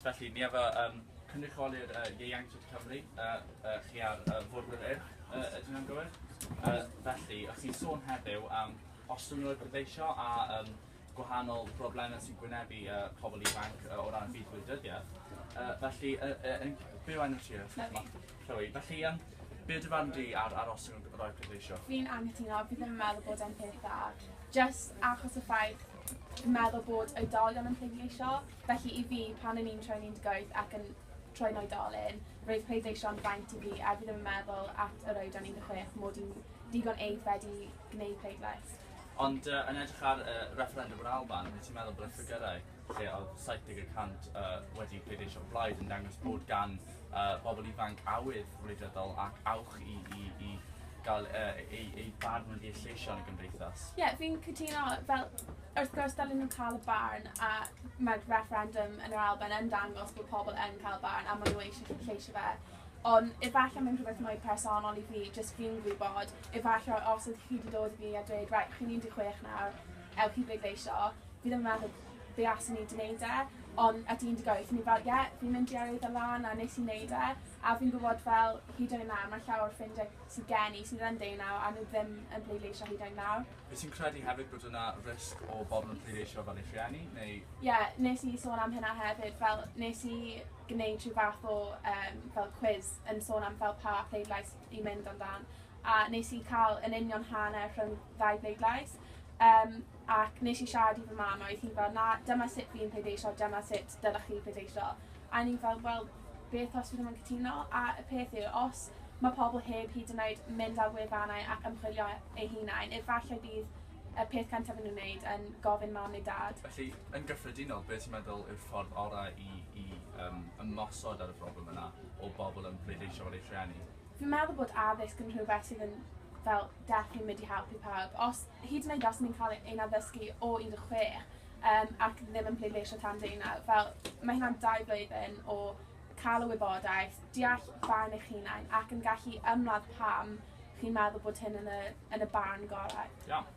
Felly, ni a fu yn cynrychiolydd ieuenctid Cymru, chi a'r Bwrdd yr Urdd, ydyn nhw'n gywir? Felly, o'ch chi'n sôn heddiw am ostwng y dyfeisio a gwahanol broblemau sy'n gwynebu pobl ifanc o ran byd gwleidyddiaeth. Felly, yn byw enw ti? Chloe, Felly yym be yw dy farn di ar aros yn y Royal Pleidleisio? Fi'n anghytuno, fi ddim yn meddwl bod e'n peth dda. Jyst achos y ffaith fi'n meddwl bod oedolion yn pleidleisio, felly i fi, pan o'n i'n troi'n 18 ac yn troi'n oedolyn, roedd pleidleisio'n fraint i fi a fi ddim yn meddwl at yr oedran 16 mod i'n digon aeddfed i gwneud pleidlais. Ond yy yn edrych ar yy refferendwm yr Alban, wyt ti'n meddwl bod y ffigyrau lle oedd 70 y cant uh, wedi pleidleisio blaid yn dangos bod gan uh, bobl ifanc awydd wleidyddol ac awch i, i, i gael uh, ei, ei barn wedi ei lleisio yn y gymdeithas. Ie, yeah, fi'n cytuno, fel, wrth gwrs, dylun nhw cael y barn, a mae'r referendum yn yr Alban yn dangos bod pobl yn cael barn, a maen nhw eisiau lleisio fe. Ond efallai mae'n rhywbeth mwy personol i fi, jyst fi'n gwybod, efallai os ydych chi wedi dod i fi a dweud, right, chi'n 16 nawr, Ewch i bleidleisio. Fi ddim yn meddwl fe asen i 'di neud e. Ond at 18 o'n i fel ie fi'n mynd i yrwydd y lan a nes i neud e. A fi'n gwbod fel hyd yn oed nawr ma' llawer o ffrindie sy gen i sydd yn ddeunaw a nhw ddim yn bleidleisio hyd yn oed nawr. Wyt ti'n credu hefyd bod yna risg o bobl yn pleidleisio fel eu rhieni neu...? Ie nes i sôn am hynna hefyd fel nes i gneud rhyw fath o yym fel cwis yn sôn am fel pa pleidlais i mynd amdan a nes i cael yn union hanner rhwng ddau bleidlais um, ac nes i siarad i fy mam a oedd hi fel na dyma sut fi'n pleidleisio, dyma sut dylech chi pleidleisio a ni fel wel beth os fi ddim yn cytuno a y peth yw os mae pobl heb hyd yn oed mynd ar wefannau ac ymchwilio eu hunain, efallai bydd y peth cyntaf yn nhw'n wneud yn gofyn mam neu dad. Felly, yn gyffredinol, beth ti'n meddwl yw'r ffordd orau i, i um, ymosod ar y broblem yna o bobl yn pleidleisio ar eu rhieni? Fi'n meddwl bod addysg yn rhywbeth sydd yn fel definitely mynd i helpu pawb. Os, hyd yn oed os ni'n cael ein addysgu o 16 um, ac ddim yn pleidleisio tan deunaw, fel mae hynna'n dau blwyddyn o cael y wybodaeth, deall barn eich hunain ac yn gallu ymladd pam chi'n meddwl bod hyn yn y, yn y barn gorau. Iawn.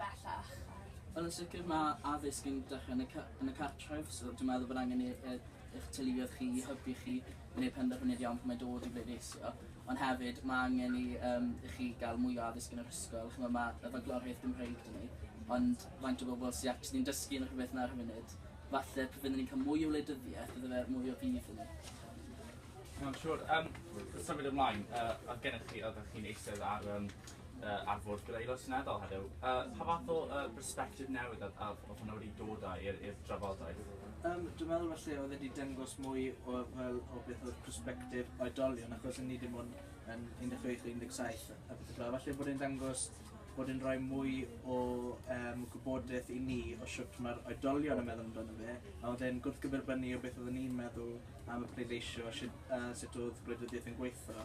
bellach. Wel yn sicr mae addysg yn dechrau yn y, yn y cartref, so dwi'n meddwl bod angen eich teuluoedd chi i hybu chi i wneud penderfyniad iawn pan mae dod i bleidleisio. Ond hefyd, mae angen i, um, i chi gael mwy o addysg yn yr ysgol. Chymod, mae y fagloriaeth Gymreig dyn ni, ond faint o bobl sy'n actually'n dysgu yn rhywbeth na'r funud. Falle, pryd fyddwn ni'n cael mwy o wleidyddiaeth, bydde fe mwy o fydd yn ni. Mae'n siŵr. Um, symud ymlaen, uh, oedd gennych chi, oedd chi'n eistedd ar um, uh, ar fod gyda'r Aelod Seneddol heddiw. Uh, pa fath o uh, perspective newydd oedd a, a, hwnna wedi dod â i'r drafodaeth? Um, dwi'n meddwl felly oedd wedi dangos mwy o, fel, o beth oedd perspective oedolion achos ni dim ond yn 16-17 a beth ydw. Felly bod e'n dangos bod yn rhoi mwy o um, gwybodaeth i ni o siwt mae'r oedolion yn meddwl amdano fe, a oedd e'n gwrthgyferbynnu o beth oeddwn ni'n meddwl am y pleidleisio, sut, uh, sut oedd gwleidyddiaeth yn gweithio.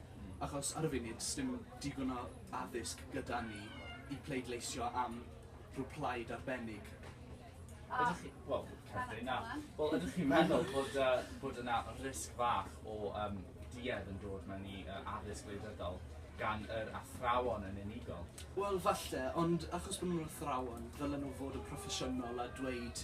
Achos ar y funud sdim digon o addysg gyda ni i pleidleisio am rhyw plaid arbennig. Ydych chi... Wel, Catherine, na. Wel, ydych chi'n meddwl bod, uh, bod yna risg fach o um, duedd yn dod mewn i uh, addysg wleidyddol gan yr athrawon yn unigol? Wel, falle, ond achos bod nhw'n athrawon, ddylen nhw fod yn proffesiynol a dweud